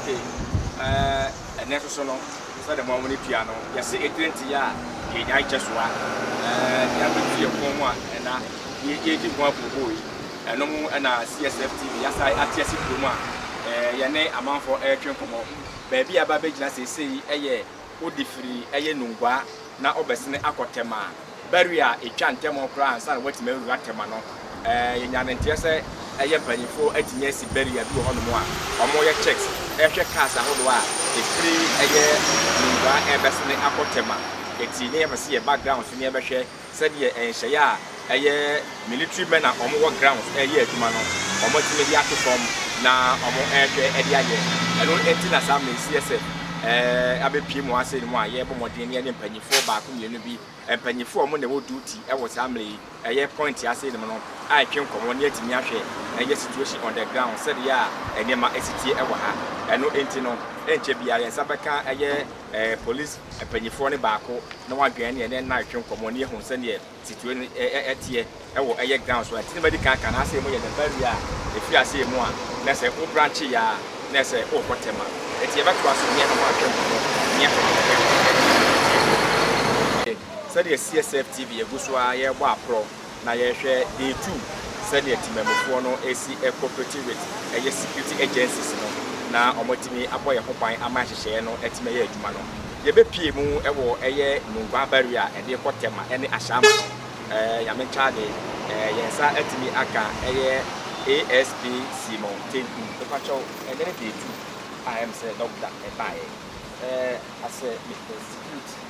Okay, uh, ɛnɛ nso so no sɛdeɛ mo amone tua no yɛse ɛtire nteɛ a yɛnya nkyɛ soa nea bɛtu yɛ kɔn mu a ɛna yɛdi ho abuobuo yi ɛno mu ɛna CSF TV yɛasa ate ase kurom a yɛne amanfoɔ ɛretwe nkɔmmɔ baabi a ba bɛgyina seesei ɛyɛ odi firi yɛ nunguaa na ɔbɛsene akɔ tɛma barrier a ɛtwa ntɛm koraa ansa na watumi awura tɛma no. Yɛnya no nteɛ sɛ yɛ mpanyimfoɔ atumi asi barrier bi wɔ hɔnom a wɔyɛ checks hwɛ cars ahodoɔ a ɛfiri yɛ nunguaa rebɛsene akɔ tɛma. Ɛti ne yɛpɛ sɛ yɛ background so ne yɛbɛhwɛ Sɛdeɛ nhyeɛ a ɛyɛ military men a wɔn wɔ grounds reyɛ adwuma no wɔn atumi de ato fam na wɔn rehwɛ de ayɛ ɛno nti na saa mmerɛ yi seɛ sɛ ɛɛ abɛ pie mu asɛn mu a yɛ bɔ mmɔden ne yɛne mpanyinfoɔ baako mmienu bi mpanyinfoɔ wɔn na ɛwɔ duty ɛwɔ saa mmerɛ yi ɛyɛ point asɛn mu no a ɛtwe nkɔmɔ ne atumi ahwɛ ɛyɛ situation on the ground sɛdeɛ a nneɛma ɛsitie ɛwɔ ha ɛno nti no ɛnkyɛ biara yɛn nsa bɛka ɛyɛ eh, police mpanyinfoɔ no baako na wadwɛn ne ɛnɛ nna retwe nkɔmmɔ ne yɛhu sɛdeɛ situation no eh, eh, ɛteɛ ɛwɔ ɛyɛ ground so ɛnti ne madi kan ka na asɛ mu yɛ the barrier a ɛfiri aseɛ mu a na sɛ wo branche yɛ a na sɛ wokɔ tɛma ɛti yɛbɛtoa so ne ɛna mo atwe nkɔmmɔ ne yɛhwɛ sɛdeɛ CSF TV yɛgu so a yɛbɔ aporɔ Na yɛhwɛ day two sɛdeɛ temammufoɔ no ɛsi cooperate with ɛyɛ security agencies no na wɔatumi abɔ yɛn ho ban ama nhyehyɛeɛ no atumi ayɛ adwuma no. Yɛbɛpue mu wɔ ɛyɛ Nungua Barrier a ɛde kɔ Tema ɛne Ashama no. Nyame nkyɛade yɛn nsa atumi aka ɛyɛ ASP Simon Tenku. Mepakyɛw ɛnɛ ne day two a ɛyɛ me sɛ Dɔkda ɛbaeɛ. Ɛɛ asɛ Mister Security.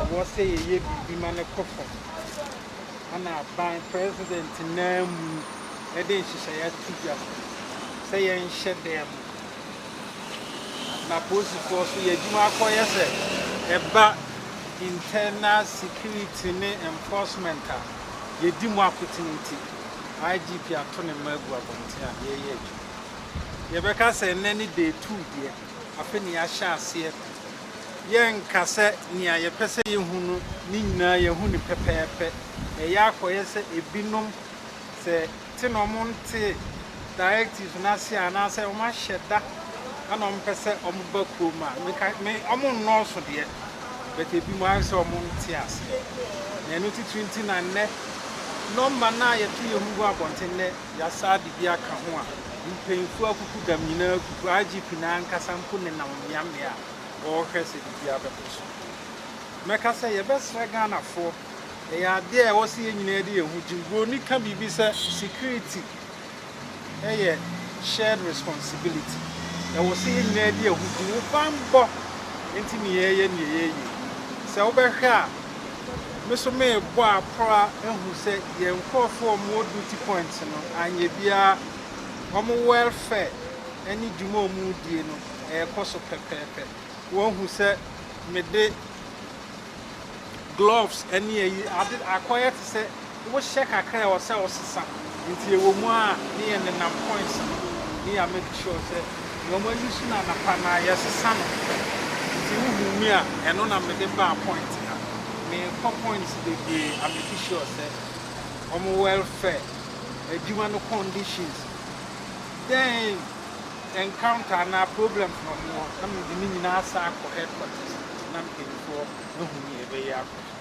ɛwɔ sɛ yɛyɛ biribi ma no kɔ fam. Ɛna aban president naa mu de nhyehyɛeɛ ato dwa sɛ yɛnhyɛ dan mu. Na polisifoɔ so yɛ adwuma akɔyɛ sɛ ɛba internal security ne enforcement a yɛdi mu akotene nti, IGP ato ne mma agu abɔnten a yɛreyɛ adwuma. Yɛbɛka sɛ nnɛ ne day two deɛ, afe ne yɛahyɛ aseɛ Yɛrenka sɛ nea yɛpɛ sɛ yehu no no nyinaa yɛahu no pɛpɛɛpɛ. Ɛyɛ a kɔyɛ sɛ ebinom, sɛ te na wɔntee directives no ase anaasɛ wɔahyɛ da na wɔpɛ sɛ wɔba kurom a, menka me wɔnnɔɔso deɛ, but ebinom ayɛ sɛ wɔnte aseɛ. Na ɛno titiri nti na nnɛ nɔmba no a yɛto yɛn ho gu abɔnten nnɛ Yɛasaa de bi aka ho a, mpanyimfo akuku dam nyinaa akuku. IGP no ankasa mpo nenam mmeammea a ɔrehwɛ sɛ biribiara bɛkɔ so. Mɛka sɛ yɛbɛsrɛ Ghanafoɔ, ɛyɛ adeɛ a ɛwɔ sɛ yɛn nyinaa de yɛn ho gyim. Buroni ka biribi sɛ security yɛ shared responsibility. Ɛwɔ sɛ yɛn nyinaa de yɛn ho gyim. Wo banbɔ nti ne yɛreyɛ nea yɛreyɛ yi. Sɛ wobɛhwɛ a, Me nso merebɔ aprɔa ahu sɛ yɛn nkorɔfoɔ a wɔwɔ duty point no anyɛ biara, wɔn welfare ne dwuma a wɔredie no ɛrekɔ so pɛpɛɛpɛ. Wɔahu sɛ mede gloves ne ayi ade akɔyɛ te sɛ. Wohyɛ kakra a ɛwɔ sɛ wosesa. Nti ɛwɔ mu a ne yɛ nenam points no do ne yɛ make sure sɛ nea wɔn ani so no anapa no ara yɛsesa no. Nti wo hu me a ɛno na me de baa point ha. Me kɔ points bebree a make sure sɛ wɔn welfare, adwuma no conditions, then encounter anaa problems na wɔn wɔ na me de ne nyinaa san akɔ headquarters na mpanyinfoɔ ahu nea yɛbɛyɛ akɔ so.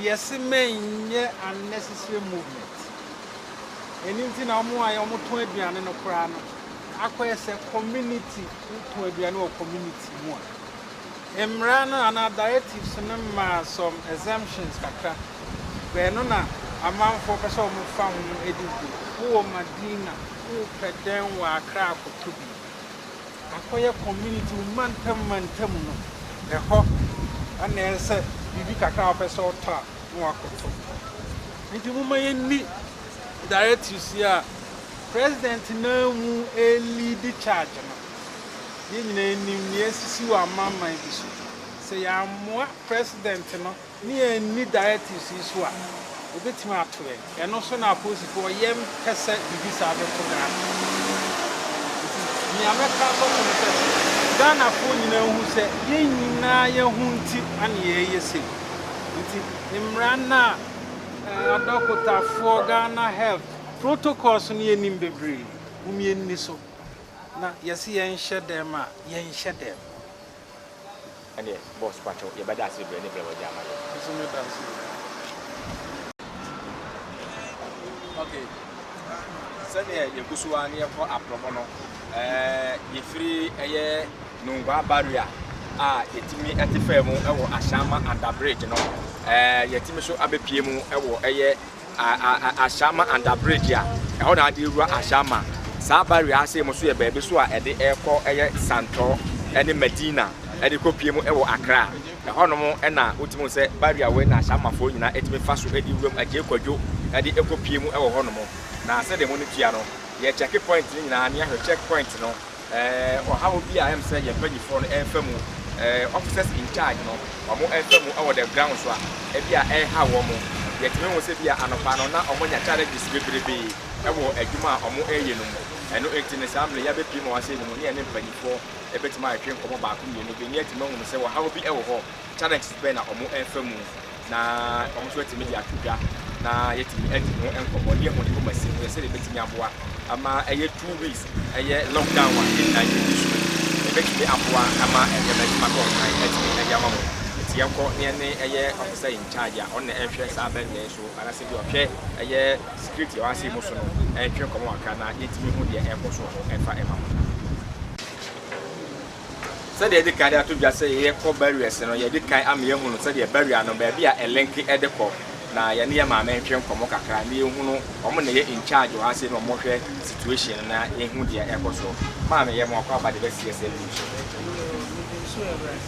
Yɛse mɛnyɛ unnecessary movement. Ɛno nti na wɔn a wɔtɔn aduane no koraa no akɔyɛ sɛ community, wotɔn aduane wɔ community mu a. Mmara no anaa directives no maa some exemptions kakra. Ɛno na amanfoɔ pɛ sɛ wɔfa ho di dwuma. Wowɔ Madina, wopɛ dɛn wɔ Accra a kɔtɔ bi. Akɔyɛ community mu mantam mantam no ɛhɔ na ɛyɛ sɛ biribi kakra a wopɛ sɛ ɔtɔ a na wakɔtɔ. Nti momma yɛnni directives yi a President no ara mu ɛreleadi charge no. Yɛn nyinaa nim nea asisi wɔ amanaman bi so. Sɛ yɛammoa President no. ne yɛn anni directives yi so a, wɔbɛtumi ato yɛn. Ɛno nso na apolisifoɔ, yɛmpɛ sɛ biribi saa bɛto Ghana. Nti nea mɛka asɔfo no sɛ, Ghanafoɔ nyinaa nhu sɛ yɛn nyinaa yɛn ho nti na yɛreyɛ sei. Nti mmara no a adɔkotafoɔ, Ghana Health protocols no yɛnim bebree, mom yɛnni so. Na yɛse yɛnhyɛ dɛm a, yɛnhyɛ dɛm. Ɛndeɛ boss pakyɛw yɛbɛda ase bebree ne brɛ wagye ama yɛn. Nso me da ase oo. Ok sɛdeɛ yɛgu so ara na yɛkɔ aprɔmɔ no ɛɛ yɛfiri ɛyɛ Nungua barrier a yɛtumi ɛte faa mu ɛwɔ Ashama under bridge no ɛɛ yɛtumi so abɛpue mu ɛwɔ ɛyɛ Ashama Under Bridge a ɛhɔ na ade rewura Ashama. Saa barrier ase mu nso yɛ baabi nso a ɛde rekɔ yɛ Santɔ ne Medina de kɔpue mu wɔ Accra. Ɛhɔnom na wotumi hu sɛ barrier wei na Ashamafoɔ nyinaa tumi fa so de wuram, Agyei Kwadwo de kɔpue mu wɔ hɔnom. Na sɛdeɛ mo ani tua no, yɛkyɛke point no nyinaa na yɛahwɛ check point no Ɔhaw bi a ɛm sɛ yɛn mpanyinfoɔ no ɛɛfa mu, officers in charge no ɔmo ɛɛfa mu ɛwɔ the ground so a ɛbi a ɛɛhaw ɔmo. Yɛtumi hu sɛ bi a anɔpa no na ɔmo anya challenges bebrebee ɛwɔ adwuma a ɔmo ɛɛyɛ no mu. Ɛno nti no saa mmere yi yabɛpie mu a wɔasɛe no mu ne yɛne mpanyinfoɔ ɛbɛtumi atwetwe nkɔmɔ baako mmienu bi ne yɛatumi ahunu sɛ ɔhaw bi ɛwɔ hɔ Challenges bɛn na wɔrefa mu na wɔn nso atumi de ato dwa na yɛatumi adi ho nkɔmmɔ ne yɛahu Yehova Mmasirahwɛ sɛdeɛ ɛbɛtumi aboa ama ɛyɛ two weeks ɛyɛ lockdown a yɛn nyinaa yɛdi so yi ɛbɛtumi aboa ama nneɛma atumi akɔ ho kan atumi ɛde ama mo. Nti yɛnkɔ na yɛne ɛyɛ Officer in Charge a ɔno na ɛnhwɛ saa bɛnbɛn yi so anaasɛ bi ɔhwɛ ɛyɛ security a ɛwɔ ase mu so no ɛntwe nkɔmmɔ kakra na yɛntumi hu deɛ ɛrekɔ so wɔ hɔ ɛfa ɛma mo. Sɛdeɛ yɛadi kan de ato dwa sɛ yɛkɔ barriers no, yɛadi kan ama yɛahunu sɛdeɛ barrier no, baabi a ɛlenke de kɔ, na yɛne yɛn maame ntwe nkɔmmɔ kakra na yɛhunu, wɔn na ɛyɛ in charge wɔ ha sei na wɔhwɛ situation no na yɛhu deɛ ɛrekɔ so. Maame, yɛ moakɔ aba de bɛsi yɛsɛ leave so. Nsu awurade.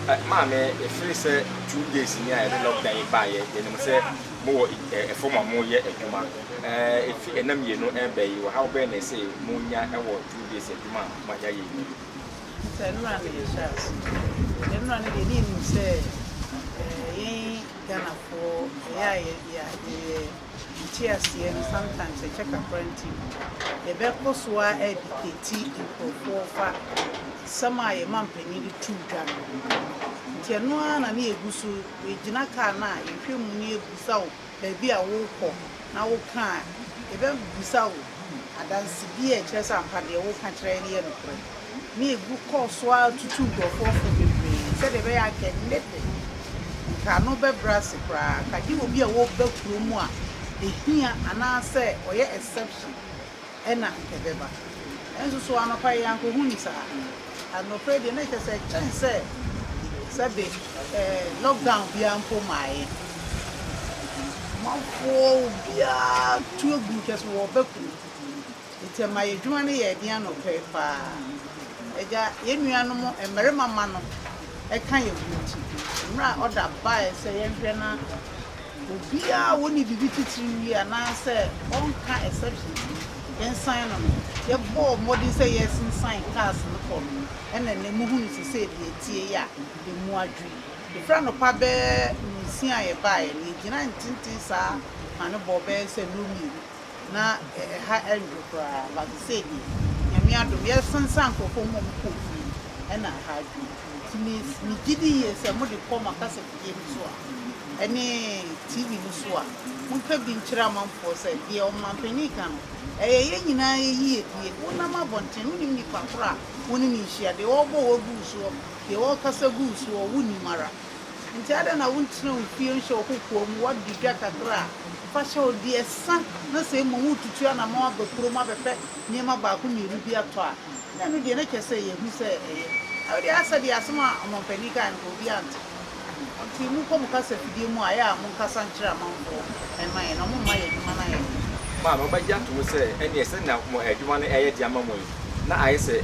Ɛ, maame, ɛfiri sɛ two days ni a yɛde lockdown yi baeɛ, yɛnim sɛ mowɔ ɛ, ɛfam a moyɛ adwuma. Ɛ, ɛfi ɛna mmienu ɛrebɛ yi, ɔhaw bɛn na ɛsɛ monya wɔ two days adwuma a ma yɛayɛ yiye. Sɛ nnora na yɛhyɛ ase a, nnora no deɛ ne yɛnim sɛ yɛn Ghanafoɔ ɛyɛ a yɛyɛ nteaseɛ no sometimes ɛkyɛ kakra nti no yɛbɛkɔ so a ɛdikɛti nkurɔfoɔ fa sɛm a yɛn mampanin de to dwa no ho. Nti ɛno ara na ne yɛgu so, yɛgyina kaa no a yɛhwɛ mu ne yɛbusa o baabi a worekɔ na woka a, yɛbɛbisa wo adanse bi a ɛkyerɛ sɛ ampa deɛ woreka kyerɛ yɛn no yɛ nokorɛ. Na Yegu kɔɔ so ara tutuu nkurɔfoɔ fo bebree sɛdeɛ ɛbɛyɛ a anka ɛnne de, anka ano bɛbrɛ ase koraa, anka gye obi a ɔreba kurom a ɛhia anaasɛ ɔyɛ exception. na ɛbɛba. Nanso so anɔpa yi ankohu no saa? Anɔpa yi deɛ na ɛkyerɛ sɛ ɛkyɛn sɛ sɛbe eh, lockdown biara mpo maaeɛ. Amanfoɔ obiara tu agu kyɛ sɛ wɔbɛko. Nti ɛma yɛ adwuma no yɛɛ den anɔpa yi paa. Agya, yɛn nuanom mmarima mma no ka yɛn ho nti, mmerɛ a ɔda baeɛ sɛ yɛnhwɛ na Obiara a ɔnni biribi titire wie anaasɛ ɔnka exceptions no nsan no no, yɛbɔɔ mmɔden sɛ yɛresensan cars no kɔɔ no mu, ɛna nnɛ mo hunu te sɛ deɛ ɛteɛ yi a ɛmu adwo yi. Ɛfiri anɔpa bɛyɛ nonsia a yɛbaeɛ no, yɛgyina ntenten saa ma no bɔɔ bɛyɛ sɛ nnɔ mmienu. na ɛha ɛdwo koraa but sei deɛ Nyame adom yɛresan san nkorɔfoɔ mu a ɔmo kɔɔ fie ɛna ɛha adwo nti me megye di yie sɛ mo de kɔ mo akasafidie no so a ɛne TV no so a monka bi nkyerɛ amanfoɔ sɛ deɛ ɔmanpanin ka no ɛyɛ yɛn nyinaa yɛ yie die wonam abɔnten wonim nipa korɔ a wone no nhyia deɛ ɔrebɔ wɔ gu soɔ deɛ ɔrekasa gu soɔ wonim ara. Enti adɛn na wontena wo fie nhyɛ wo kokoa mu, woadi dwa kakra a, fa hyɛ wo deɛ sa, na sɛ mmom woretutu anammɔn aba kurom abɛpɛ nneɛma baako mmienu bi atɔ a, na ɛno deɛ na kyerɛ sɛ ɛyɛ hu sɛ ɛyɛ. Na wodeɛ asɛ deɛ asɛm a ɔmampanin kaeɛ no, obiara nte. Enti monkɔ mo kasafidie mu a ɛyɛ a monkasa nkyerɛ amanfoɔ mma yɛn, na momma yɛn adwuma no ayɛ den. Mo a moabɛgye atom sɛ ɛnneɛ sɛnea mo adwuma no reyɛ den ama mo yi, na ayɛ sɛ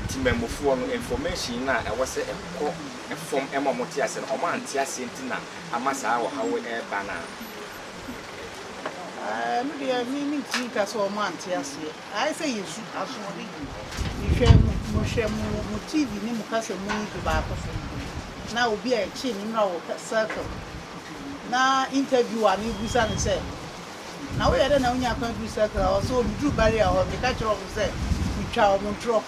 temammufoɔ no, information no a ɛwɔ sɛ ɛkɔ. Ɛfo fam ma wɔte aseɛ no, wɔante aseɛ nti na ama saa ɔhaw yi reba no a. Aah me deɛ me mentumi nka sɛ wɔn ante aseɛ ayɛ sɛ yɛ su asoɔden mehwɛ mo hwɛ mo mo TV ne mo kasa mu yi bi baako so na obi a ɛkye ne mmra wɔ circle na interview a mebusa no sɛ na woyɛ dɛ na wonya kwan duru circle a ɔsɛ ɔmeduru barrier hɔ meka kyerɛ wɔn sɛ metwa wɔn ntorɔ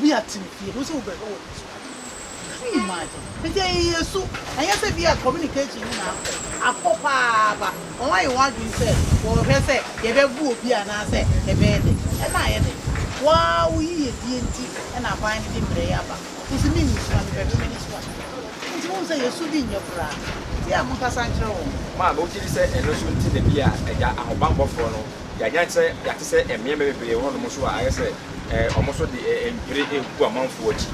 Bi a tsim pii, ibohu dɛ wo bɛhwɛ wɔ nsu ase. Can you imagine? Ntsi iyi yɛ su, nnyɛ dɛ bi a communication nye na akɔ, akɔ paa ba hɔn ayɛ hɔn adwen sɛ wɔrohwɛ sɛ yɛbɛbu obi anaasɛ yɛbɛyɛ dɛn. Nna ayɛ dɛn? Woara wo yiyedie ntsi na aban no dze mbrɛ yi aba. Ntsi me nnyi su a, mebɛhwɛ m'enyi so a. Ntsi muhun sɛ yɛ su bi nnyɛ koraa. Ntsi yɛ a monkasa nkyerɛ hɔn. Maame, Wogye dzi sɛ ɛno nso nti na bi a Agya Ahobammɔfoɔ no Yɛanyan sɛ yɛate sɛ mmea mmea bebree wɔ hɔnom nso a ayɛ sɛ wɔn nso de mpire regu amanfoɔ akyi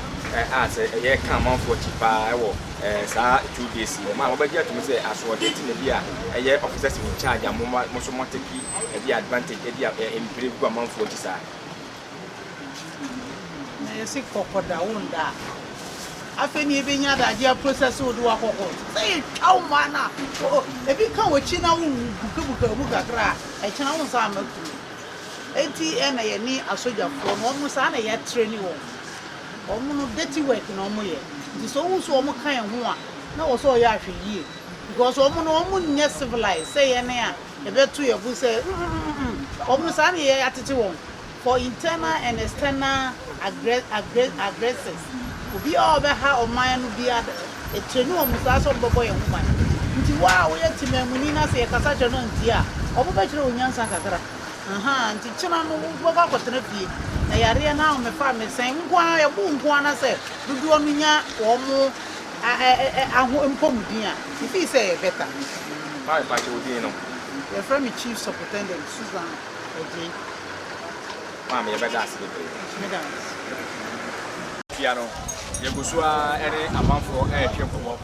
a sɛ ɛyɛ ɛka amanfoɔ akyi paa wɔ saa two days yi wɔn a wɔbɛgye atum sɛ asoɔden ti na bi a ɛyɛ officers in charge a mo nso moateki ɛde advantage ɛde mpire gu amanfoɔ akyi saa. Na yɛse kɔkɔ da wo nda a. Afei na yɛbɛnya adagye a process wo de wakɔkɔ. Sɛ yɛtwa wo mmaa no a, o, ebi ka w'akyi na wo bukabuka mu kakra a, ɛkyena wo nsa ama kuro. Enti ɛna yɛne asogyafoɔ no, wɔn saa na yɛatrɛni wɔn. Wɔn no dirty work na wɔn yɛ. Nti sɛ wohu sɛ wɔn ka yɛn ho a, na wɔ sɛ ɔyɛ ahwɛyie. Because wɔn no wɔn nyɛ civilized sɛ yɛn a. Yɛbɛto yɛn bo sɛ, mm-mm-mm, wɔn saa na yɛatete wɔn, for internal and external aggressors, obiara a ɔbɛha ɔman no biara, yɛtrɛni wɔn saa sɛ wɔbɛbɔ yɛn ho ban. Nti wo a woyɛ temammuni na sɛ yɛkasa kyerɛ no a ɔntie a, wɔbɛkyerɛ wo nyansa kakra. Ahaa, nti kyena no wobɛkɔ akɔtena fie, na yareɛ no ahomefa ammɛsɛe nko ara, yɛbo nko ara sɛ dodoɔ no nya wɔn. aho mpɔmuden a me feel sɛ ɛyɛ better no si no mu. Hi, pakyɛ wo din no? Yɛfrɛ me Chief Supritendent Susan Adjei. Maame, yɛbɛda ase bebree. Meda wo ase. Fia no, yɛgu so ara ne amanfoɔ retwe nkɔmmɔ,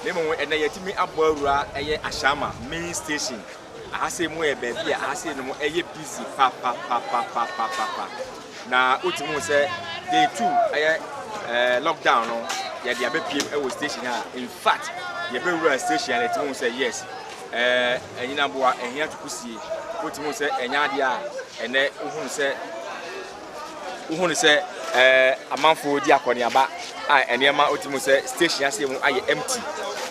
na mmom ɛnnɛ yɛatumi abɔ awura ɛyɛ Ashama Main Station. Aha sei mu yɛ baabi a aha sei no mu ɛyɛ busy papapapapapapa. Na wotumi hu sɛ day two ɛyɛ ɛɛ lockdown no yɛde abɛpiem ɛwɔ station a in fact yɛbɛwura station a yɛtumi hu sɛ yes ɛɛ ɛnyinaboa ɛhia tukusie. Wotumi hu sɛ ɛnyɛ adeɛ a ɛnɛ wohunu sɛ wohu no sɛ ɛɛ amanfo redi akɔneaba a nneɛma wote mu sɛ station ase mu ayɛ empty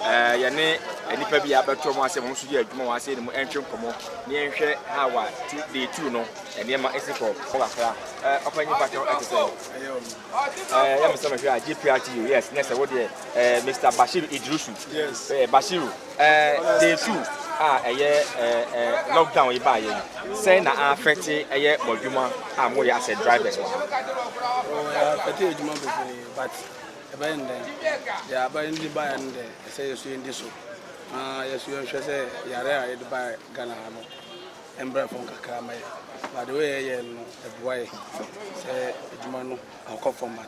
ɛɛ yɛne nnipa bi a abɛto wɔn ase wɔn nso yɛ adwuma wɔn ase ne mu ɛntwe nkɔmɔ ne yɛnhwɛ ha wa ti day two no nneɛma esi kɔ kɔ kakra ɛɛ ɔpanyin patɔ ɛte sɛ ɛɛ yɛn sɛ mehwɛ a gprt yes ne sɛ wo deɛ ɛɛ mr bashiru idrisu ɛɛ bashiru. Day two a ɛyɛ lockdown yi baayɛ yi, sɛn na affecte ɛyɛ mo adwuma a mo yɛ as a drivers wɔ ha? Oh, affecte adwuma bebree but ɛbɛyɛ no dɛn? Deɛ aba yɛn de baayɛ no dɛ ɛsɛ yɛ so yɛn di so na yɛ so yɛn hwɛ sɛ yare a yɛde baayɛ Ghana ha no ɛmbrɛ fam kakra ma yɛ but the way yɛyɛ no ɛboa yɛ sɛ adwuma no akɔ format.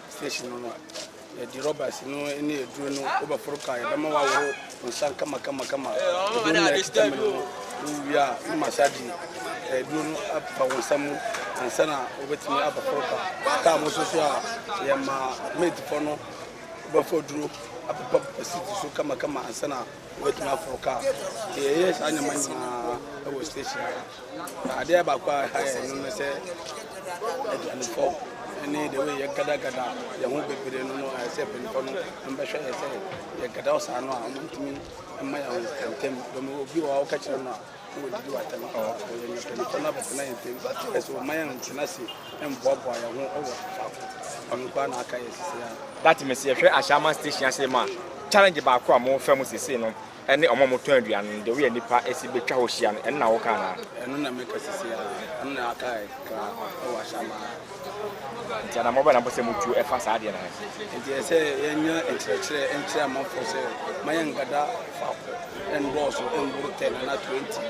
Station no no, yɛde rɔbas no ne aduro no wobɛforo ka yɛbɛma waworo nsa kama kama kama. Aduro no na ɛkita mene no. Wowie a na massage aduro no apepa wo nsa mu ansa na wobɛtumi abɛforo ka. Kaa mo so so a yɛma maidfoɔ no wobɛfɔ aduro apepa pepa seat so kama kama ansa na Wɔatumi aforo kaa. Nti yɛyɛɛ saa nneɛma nyinaa wɔ station ha. Na adeɛ baako a ɛha yɛn no ne sɛ aduanefɔ ne deɛ wɔyɛ yɛgadagada yɛn ho bebree no no ayɛ sɛ mpanyinfoɔ no mbɛhwɛ yɛ sɛ yɛgada saa no a wɔntumi mma yɛn ntɛm. Dɔm obi wɔ hɔ a woka kyerɛ no a That means yɛ hwɛ Ashama station ase ma challenge baako a mo fɛ mu sesei no ɛne ɔmo a ɔmo tɔn aduane no the way a nipa ɛsi bɛ twa hɔ hyia no ɛno na wo ka anaa. Ɛno na meka sesei ara ɛno na aka kra ɛwɔ Ashama ha. Nti anamɔ bɛn na mopɛ sɛ motu ɛfa saa adeɛ no ho? Nti ɛsɛ sɛ yɛnya nkyerɛkyerɛ nkyerɛ amanfoɔ sɛ ma yɛnkada faako nnɔɔso mboro ten anaa twenty.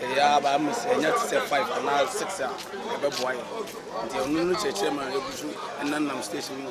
Ɛyɛ ara ba ama sɛ yɛnya te sɛ five anaa six a ɛbɛboa yɛn. Nti ɔno no kyerɛkyerɛ ma yɛgu so nenam station mu.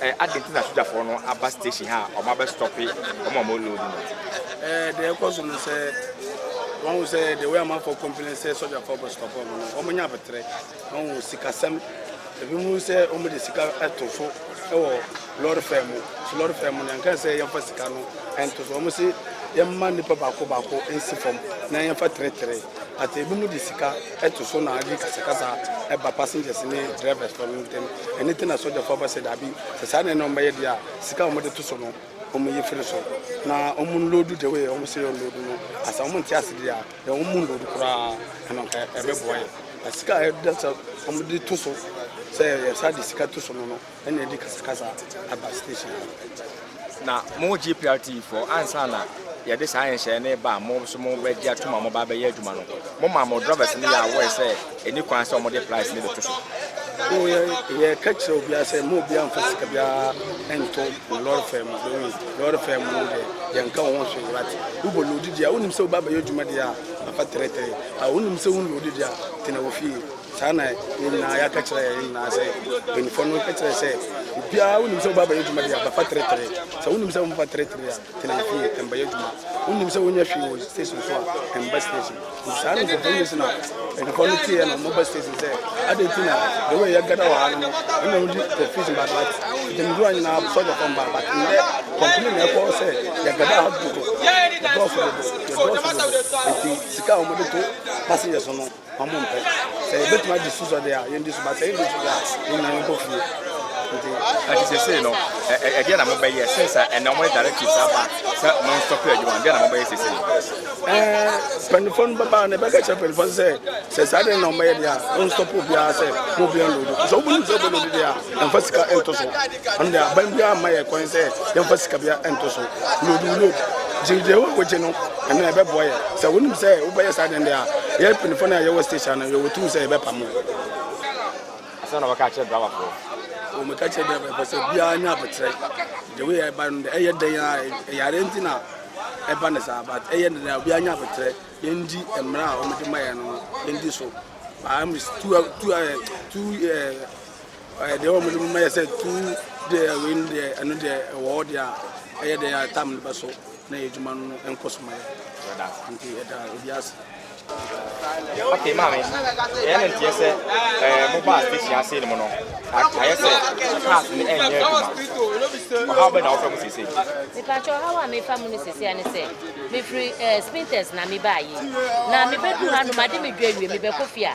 Eh aden nti na sogyafoɔ no aba station ha a ɔmo abɛ stɔpe ɔmo a ɔmo loodi no. Eh deɛ ɛkɔ so no sɛ wahu sɛ the way amanfoɔ complain sɛ sogyafoɔ bɛ stɔpe ɔmo no ɔmo nya abeterɛ wahu sikasɛm ebi mu sɛ ɔmo de sika ɛto so ɛwɔ lɔre fɛɛ mu so lɔre fɛɛ mu no yɛnka sɛ yɛnfa sika no ɛnto so ɔmo se yɛmma nipa baako baako ɛnsi fam na yɛnfa tere tere. But ebinom de sika to so na agye kasakasa ba passengers ne drivers fɔ no ntem. Ɛno nti na sɔgyafo aba sɛ dabi, sɛ saa nneɛma no ɔmbɛyɛ deɛ a, sika a wɔde to so no wɔn yi firi so na wɔn nloodu the way wɔn se wɔnloodu no. Na sɛ wɔn nte ase deɛ a, deɛ wɔn nloodu koraa ɛno nka ɛbɛboa yɛn. Na sika a ɛda sɛ wɔde to so sɛ yɛsa de sika to so no no, Ɛna ɛde kasakasa aba station ha no. Na mo GPRT foɔ ansa na yɛde saa nhyehyɛeɛ no reba a mo nso mobɛgye atom a moba abɛyɛ adwuma no, moma mo drivers no yɛ aware sɛ ɛnni kwan sɛ wɔde price no bɛto so? Oo, yɛ, yɛka kyerɛ obiara sɛ mma obiara mfa sika biara nto mo lɔre fare mu. Bɛhu lɔre fare mu no deɛ, yɛnka wo ho hwee, wate? Wobɔ loodi deɛ a, wonim sɛ woba abɛyɛ adwuma deɛ a, afa tɛrɛtɛrɛ. A, wonim sɛ wonloodi deɛ a, tena wo fie. Saa na yɛn nyinaa yɛaka kyerɛ yɛn nyinaa sɛ mpanyinfoɔ no kyerɛ sɛ obiara wonim sɛ wobɛabɛyɛ adwuma deɛ a bɛfa teretere sɛ wonim sɛ womfa teretere a tena fie ɛmbɛyɛ adwuma wonim sɛ wonyɛ hwee wɔ station so a ɛmba station nti saa no nkurɔfoɔ nyɛ si na mpanyinfoɔ no teeɛ na wɔba station sɛ adɛn nti na the way yɛgada wɔ ha no no ɛna wodi confusion baade bat gyamdura nyinaa sɔgyafoɔ mbaa bat ndɛ kɔmpene na ɛkɔɔ sɛ yɛgada ha dodo yɛdɔɔso dodo yɛdɔɔso dodo nti sika a wɔde to passengers no wɔn mpɛ. Sɛ yɛbɛtumi adi so sɔde a, yɛndi so, ba sɛ yɛndi so a, yɛnyan yɛnkɔ fie. Nti. Nti sese no, ɛdeɛ na mobɛyɛ since a ɛnna wɔn directives aba sɛ wɔn nstop adwuma no, deɛ na mobɛyɛ sese? Ɛɛ, mpanyinfoɔ no bɛba na ɛbɛka kyerɛ mpanyinfoɔ no sɛ sɛ saa deɛ na wɔbɛyɛ deɛ a, wɔn nstop obiara sɛ mo obiara nlodu. Sɛ wɔn nim sɛ wɔbɛ lodu deɛ a, yɛnfa sika nto so. Ɛno deɛ aban biara mma yɛ kwan sɛ yɛnfa sika biara nto so. Lodu load, gye deɛ wɔn wogye no. Ɛno na ɛbɛboa yɛn. Sɛ wonim sɛ wobɛyɛ saa dɛn de a, yɛn mpanyinfoɔ no a yɛwɔ station no, yɛwɔ tumi sɛ yɛbɛpam wo. Asɛm na wɔka akyerɛ driverfoɔ. Wɔka kyerɛ driverfoɔ sɛ biara nya aboterɛ. The way ɛba no, ɛyɛ dɛn a ɛyare nti na ɛba ne saa, but ɛyɛ dɛn a obiara nya aboterɛ. Yɛndi mmara a wɔde ma yɛn no, yɛndi so. But I'm two, two, two, uh, Ɛɛ deɛ wɔn de mo mɛyɛ sɛ tu deɛ wei no deɛ ɛno deɛ ɛwɔ hɔ deɛ a ɛyɛ deɛ a tam no bɛso na yɛ adwuma no nkɔ so ma yɛ nti ɛda obi ase. ok maame ɛyɛ no nteɛ sɛ ɛɛ mo baa station ase no mu no ayɛ sɛ cars no ɛnyɛ adwuma ɔhaw bɛn na wɔfɛ mo sese. mepatwɛ ɔhaw a mefa mu no sese ɛne sɛ mefiri ɛɛ spinters na mebaa yi na mebɛdu ha no made medwa awie mebɛkɔ fie a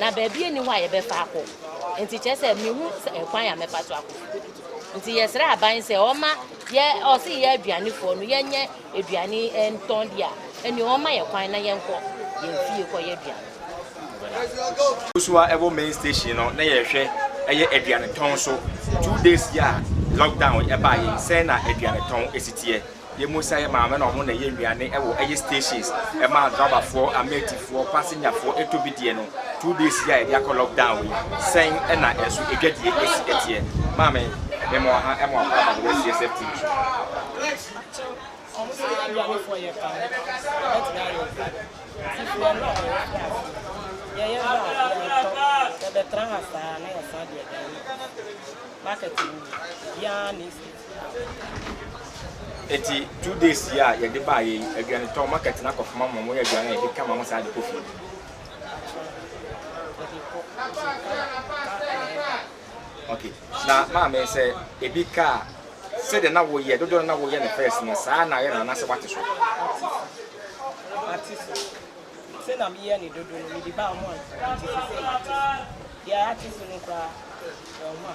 na baabi nni hɔ a yɛbɛfa akɔ. Enti kyerɛ sɛ mihu kwan a mɛfa so akɔ fi kodu hɔ. Enti yɛsrɛ aban sɛ ɔma yɛ ɔse yɛ aduanefoɔ no yɛnyɛ aduane eh, ntɔn deɛ a, ɛnneɛ ɔma yɛ kwan na yɛnkɔ yɛn fie kɔyɛ aduane. Nso a ɛwɔ main station no na yɛhwɛ ɛyɛ aduane tɔn so. Two days yi a lockdown yi ɛbaeɛ yi, sɛn na aduane tɔn ɛsi teɛ? Yɛn mu sɛ yɛn maame na wɔn na ɛyɛ nnuane wɔ ɛyɛ stations ɛma drabafoɔ, amɛɛtifoɔ, pasenyafoɔ ɛtɔ bi deɛ no, two days yi a yɛde akɔ lock down yi, sɛn ɛna ɛnso ɛdwadie ɛsi ɛteɛ? Maame, me mo aha ɛmo akɔ aba bɛbɛ CSF TV so. Mpakyɛw, wɔn sɛ yɛn aduanefoɔ yɛ fa ho, yɛbɛtumi ayɛ adwuma, sisi yɛn na wɔn ate aseɛ, deɛ yɛn ba a yɛntɔ, yɛbɛtra ha saa na yɛsan de aduane akɔ market no mu, obiara ne. Eti two days yi a yɛde baayɛ yi, aduane tɔn market na kɔfama ma wɔn yɛ aduane a yɛde ka ma wɔn saa de kɔ fie. Okay. Na maame sɛ ebi ka a, sɛdeɛ na woyɛ dodoɔ no na woyɛ no first no saa na ayɛ no anaasɛ wate so? Mate so. Sɛ na meyɛ ne dodo no, mede baa wɔn ansa nti sɛ sɛ mate so. Deɛ ate so no koraa, wɔn a.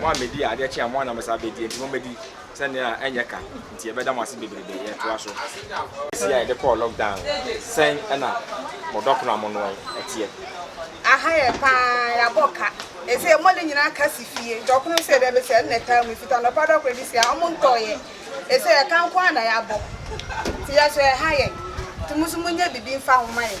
Mo a medii adeɛ kye a mo ara na mɛsan abɛdi enti mommɛdi sɛ nea ɛnyɛ ka nti yɛbɛda mo ase bebrebe. Yɛtoa so. Ɛsi a yɛde kɔɔ lockdown no, sɛn na mo dɔkono a monoe teɛ? Aha yɛ paa, yɛabɔ ka. Ɛsei mmɔde nyinaa ka si fie. Dɔkono no sɛdeɛ ɛbɛsi a ɛno na ɛtaa mu. Ɛfiti anɔpa dɔkono de si a, wɔntɔeɛ. Ɛsei ɛka nko ara na yɛabɔ. Nti yɛsrɛ, ɛha yɛn. Nti mo nso monyɛ biribi mfa ho ma yɛn.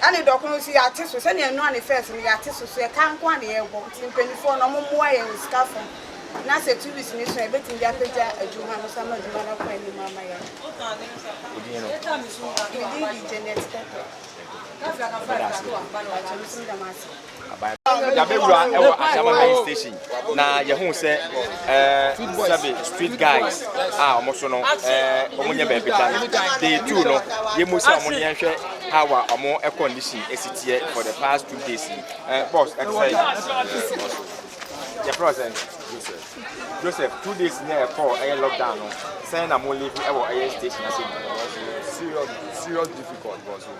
Na ne dɔ koro nso yɛate so, sɛnea ɛno a ne fɛs no yɛate so, so yɛtaa nko a na yɛrebɔ, nti mpaninfoɔ no ɔmo mmoa yɛn wɔ sika fam, na sɛ two weeks no so a yɛbɛtumi de apagya adwuma no so ama adwuma no akɔ anim ama yɛn. Me din de Janet Tetteh. Mpakyɛw, me nso meda mo ase. Yɛabɛwura wɔ Adama Main Station na yɛhuu sɛ sɛbe street guys a wɔn so no wɔn nyɛ baabi da no. Day two no, yɛmu sɛ wɔn yɛn hwɛ how a wɔn condition esi teɛ for the past two days yi. Boss, ɛte sɛ yɛfrɛ sɛ Joseph. Joseph, two days ni a yɛkɔɔ ɛyɛ lockdown no, sɛn na mo live wɔ ɛyɛ station ase yi? Serious difficult boss.